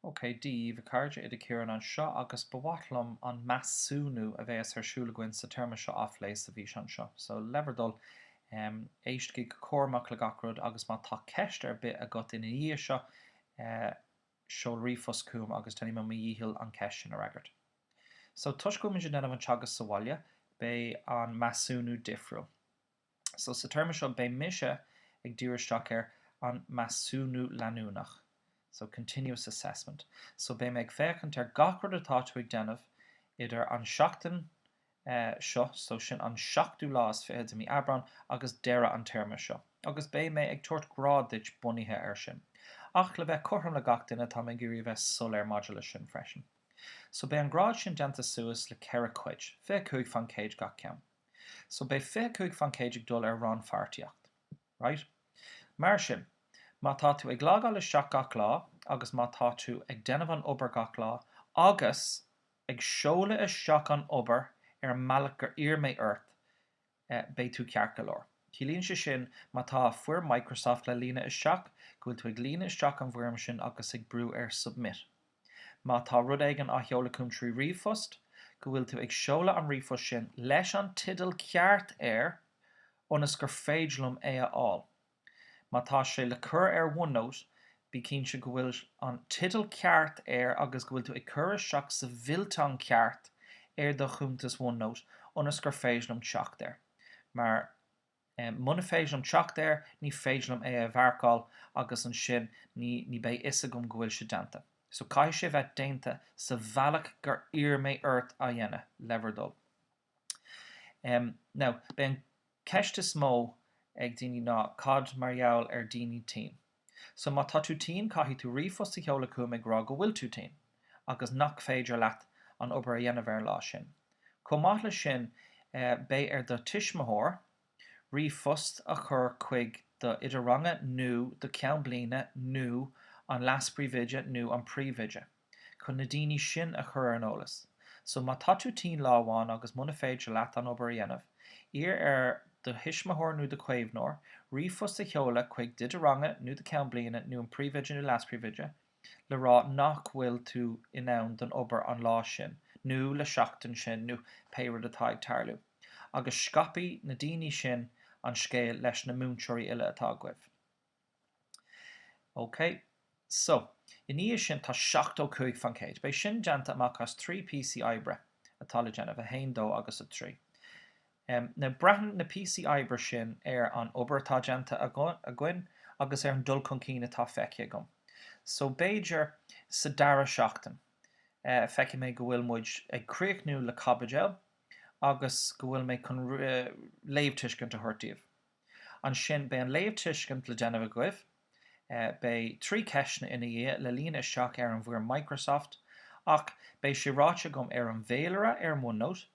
OK, Dia daoibh, a chairde, Oide Ciarán anseo agus ba mhaith liom an measúnú a bheas ar siúl againn sa téarma seo á phlé sa bhfíseán seo. So, le bhur dtoil, em, éistigí go cúramach le gach rud agus má tá ceist ar bith agat ina dhiaidh seo, eh, seol ríomhphost chugam agus déanfaidh mé mo dhícheall an ceist sin a fhreagairt. So, toisc go bhfuimid ag déanamh an teagasc sa bhaile, beidh an measúnú difriúil. So, sa téarma seo, beidh mise ag díriú isteach ar an measúnú leanúnach. So, continuous assessment. So, beidh mé ag féachaint ar gach rud atá tú ag déanamh idir an seachtain seo, so sin an seachtú lá is fiche de mí Aibreán, agus deireadh an téarma seo. Agus beidh mé ag tabhairt grád duit bunaithe air sin. Ach, le bheith cothrom le gach duine, tá mé ag iarraidh a bheith soiléir maidir leis sin freisin. So, beidh an grád sin déanta suas le ceithre cuid, 25 faoin gcéad gach ceann. So beidh 25% ag dul ar rannpháirtíocht. Right. Mar sin, má tá tú ag logáil isteach gach lá agus má tá tú ag déanamh an obair gach lá agus ag seoladh isteach an obair ar an mbealach gur iarr mé ort, beidh tú ceart go leor. Ciallaíonn sé sin má tá foirm Microsoft le líonadh isteach, go bhfuil tú ag líonadh isteach an bhfoirm sin agus ag brú ar 'Submit'. Má tá rud éigin le seoladh chugam trí ríomhphost, go bhfuil tú ag seoladh an ríomhphost sin leis an teideal ceart air ionas gur féidir liom é a fháil. Má tá sé le cur ar OneNote, bí cinnte go bhfuil an teideal ceart air agus go bhfuil tú ag cur isteach sa bhfillteán ceart ar do chuntas OneNote ionas gur féidir liom teacht air mar Muna féidir liom teacht air, ní féidir liom é a mharcáil agus ansin ní ní beidh fhios agam go bhfuil sé déanta. So caithfidh sé bheith déanta sa bhealach gur iarr mé ort a dhéanamh, le bhur dtoil. Now, beidh an ceist is mó ag daoine ná cad mar gheall ar daoine tinn? So má tá tú tinn caithfidh tú ríomhphost a sheoladh chugam ag rá go bhfuil tú tinn agus nach féidir leat an obair a dhéanamh ar an lá sin. Chomh maith leis sin beidh ar do tuismitheoir ríomhphost a chur chuig do oide ranga nó do cheann bliana nó an leas-príomhoide nó an príomhoide. chun na daoine sin a chur ar an eolas. So, má tá tú tinn lá amháin agus muna féidir leat an obair a dhéanamh, iarr ar do thuismitheoir nó do chaomhnóir ríomhphost a sheoladh chuig d'oide ranga nó do Cheann Bliana nó an Príomhoide nó Leas-Príomhoide le rá nach bhfuil tú in ann don obair an lá sin nó le seachtain sin nó pé rud atá ag tarlú agus scaipfidh na daoine sin an scéal leis na múinteoirí uile atá agaibh. OK, so, i ndiaidh sin tá 70 cúig faoin gcéad. Beidh sin déanta amach as trí píosaí oibre atá le déanamh, a haon, dó agus a trí. Em, now, braitheann na píosaí oibre sin ar an obair atá déanta againn agus ar an dul chun cinn atá feicthe agam. So b'fhéidir sa dara seachtain, eh, feicfidh mé go bhfuil muid ag críochnú le caibideal agus go bhfuil mé chun, eh, léamhtuiscint a thabhairt daoibh. Ansin beidh an léamhtuiscint le déanamh agaibh. Beidh trí ceisteanna ina dhiaidh le líonadh isteach ar an bhfoirm Microsoft ach beidh sé ráite agam ar an bhféilire ar an OneNote,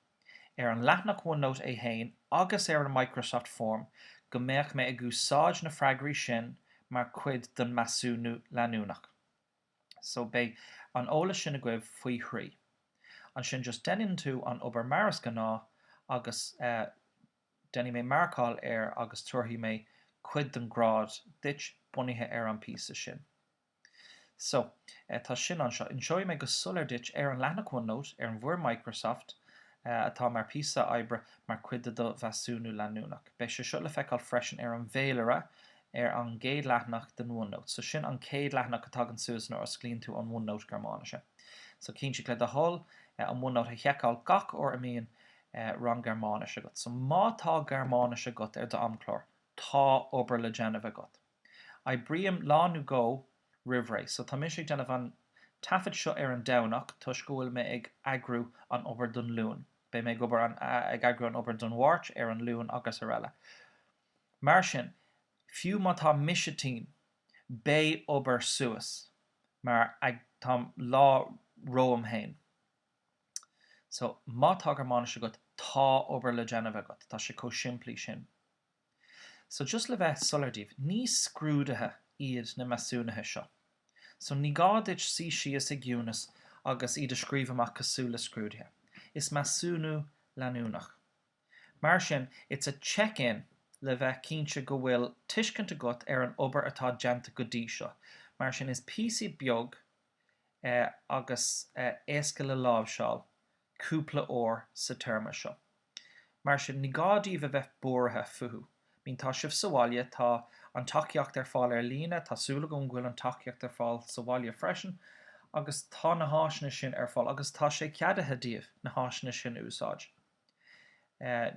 ar an leathanach OneNote í féin agus ar an Microsoft Form go mbeidh mé ag úsáid na freagraí sin mar chuid don measúnú leanúnach. So beidh an eolas sin agaibh faoi thrí. Ansin just deineann tú an obair mar is gnách agus eh. Déanfaidh mé marcáil air agus tabharfaidh mé cuid den ghrád duit bunaithe ar an bpíosa sin. So, tá sin anseo. Inseoidh mé go soiléir duit ar an leathanach OneNote, ar an bhfoirm Microsoft atá mar phíosa oibre mar chuid de do mheasúnú leanúnach. Beidh sé seo le feiceáil freisin ar an bhféilire ar an gcéad leathanach den OneNote. So, sin an chéad leathanach a thagann suas nuair a osclaíonn tú an OneNote Gearmáinise. So, cinntigh le do thoil an OneNote a sheiceáil gach uair a mbíonn eh, rang Gearmáinis agat. So má tá Gearmáinis agat ar d'amchlár, tá obair le déanamh agat. Oibrím lá nó dhó roimh ré. So tá mise ag déanamh an taifead seo ar an Domhnach toisc go bhfuil mé ag eagrú an obair don Luan. Beidh mé ag obair an, a, ag eagrú an obair don Mháirt, ar an Luan agus ar eile. Mar sin, fiú má tá mise tinn, beidh obair suas mar, eh, táim lá romham féin. So, má tá Gearmáinis agat, tá obair le déanamh agat, tá sé chomh simplí sin. So, just le bheith soiléir daoibh, ní scrúduithe iad na measúnuithe seo. So, ní gá duit suí síos i gciúnas agus iad a scríobh amach cosúil le scrúduithe. Is measúnú leanúnach é. Mar sin, is check in le bheith cinnte go bhfuil tuiscint agat ar an obair atá déanta go dtí seo. Mar sin, is píosa beag agus éasca le láimhseáil cúpla uair sa téarma seo. Mar sin, ní gá daoibh a bheith buartha fúthu. I mean tá sibh sa bhaile, tá an tacaíocht ar fáil ar líne, tá súil agam go bhfuil an tacaíocht ar fáil sa bhaile freisin, agus tá na háiseanna sin ar fáil, agus tá sé ceadaithe daoibh na háiseanna sin a úsáid.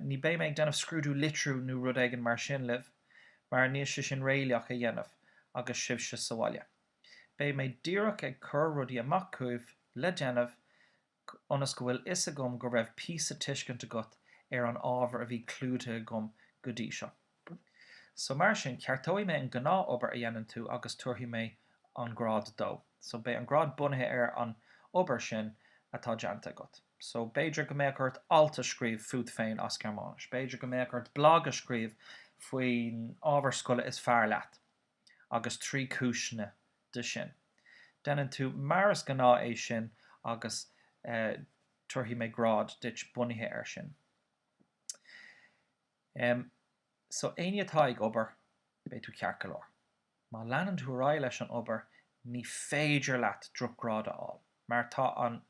Ní beidh mé ag déanamh scrúdú litriú nó rud éigin mar sin libh, mar níl sé sin réalaíoch a dhéanamh agus sibhse sa bhaile. Beidh mé díreach ag cur rudaí amach chugaibh le déanamh ionas go bhfuil fhios agam go raibh píosa tuiscint agat ar an ábhar a bhí clúdaithe agam go dtí seo. So mar sin, ceartóidh mé an gnáth obair a dhéanann tú agus tabharfaidh mé an grád dó. So beidh an grád bunaithe ar an obair sin atá déanta agat. So b'fhéidir go mbeadh ort alt a scríobh fút féin as Gearmáinis. B'fhéidir go mbeadh ort blag a scríobh faoin ábhar scoile is fearr leat. agus trí cúiseanna dó sin. Déanann tú mar is gnáth é sin agus tabharfaidh mé grád duit bunaithe air sin. Em. So éinne atá ag obair, beidh tú ceart go leor. Má leanann tú ar aghaidh leis an obair, ní féidir leat drochghrád a fháil. mar tá an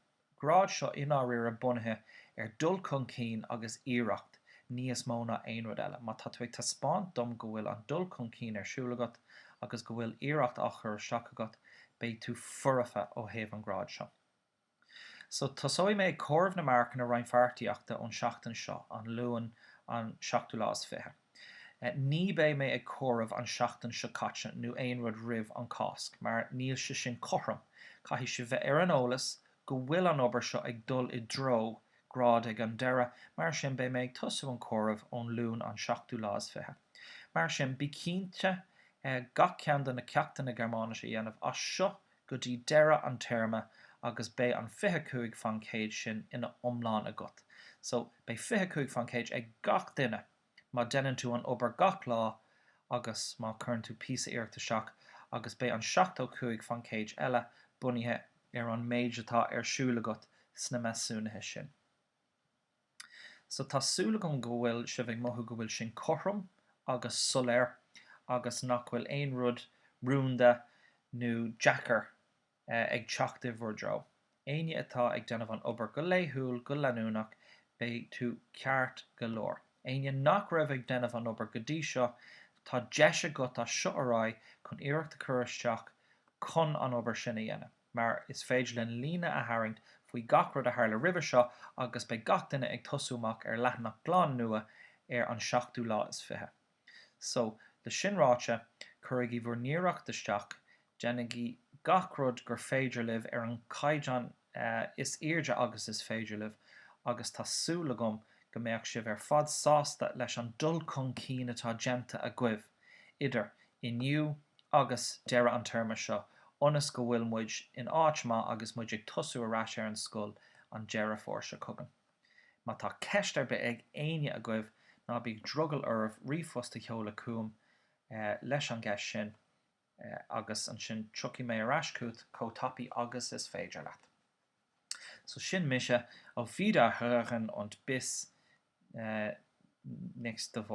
grád seo i ndáiríre bunaithe ar dul chun cinn agus iarracht níos mó ná aon rud eile. Má tá tú ag taispeáint dom go bhfuil an dul chun cinn ar siúl agat agus go bhfuil iarracht á chur isteach agat, beidh tú foirfe ó thaobh an grád seo. So, tosóidh mé ag comhaireamh na marcanna rannpháirtíochta ón tseachtain seo, an Luan an seachtú lá is fiche. Ní beidh mé ag comhaireamh an tseachtain seo caite nó aon rud roimh an Cásc mar níl sé sin cothrom, caithfidh sibh bheith ar an eolas go bhfuil an obair seo ag dul i dtreo grád ag an deireadh, mar sin beidh mé ag tosú an comhaireamh ón Luan an seachtú lá is fiche. Mar sin, bí cinnte gach ceann de na ceachtanna Gearmáinise a dhéanamh as seo go dtí deireadh an téarma agus beidh an fiche cúig faoin gcéad sin ina iomlán agat. So, beidh fiche cúig faoin gcéad ag gach duine má déanann tú an obair gach lá agus má cuireann tú píosa iarracht isteach agus beidh an seachtó cúig faoin gcéad eile bunaithe ar an méid atá ar siúl agat sna measúnuithe sin. So tá súil agam go bhfuil sibh ag mothú go bhfuil sin cothrom agus soiléir agus nach bhfuil aon rud rúnda nó deacair ag teacht i bhur dtreo. Éinne atá ag déanamh an obair go laethúil, go leanúnach, beidh tú ceart go leor. Éinne nach raibh ag déanamh an obair go dtí seo, tá deis agat as seo ar aghaidh chun iarracht a chur isteach chun an obair sin a dhéanamh. mar is féidir linn líne a tharraingt faoi gach rud a tharla roimhe seo agus beidh gach duine ag tosú amach ar leathanach glan nua ar an seachtú lá is fiche. So, le sin ráite, cuirigí bhur n-iarracht isteach, déanaigí gach rud gur féidir libh ar an gcaighdeán is airde agus is féidir libh agus tá súil agam go mbeadh sibh ar fad sásta leis an dul chun cinn atá déanta agaibh, idir inniu agus deireadh an téarma seo ionas go bhfuil muid in áit maith agus muid ag tosú ar ais ar an scoil an Deireadh Fómhair seo chugainn. Má tá ceist ar bith ag éinne agaibh ná bíodh drogall oraibh ríomhphost a sheoladh chugam leis an gceist sin agus ansin tiocfaidh mé ar ais chugat chomh tapaidh agus is féidir leat. So sin mise, auf Wiederhören und bis nächste Woche.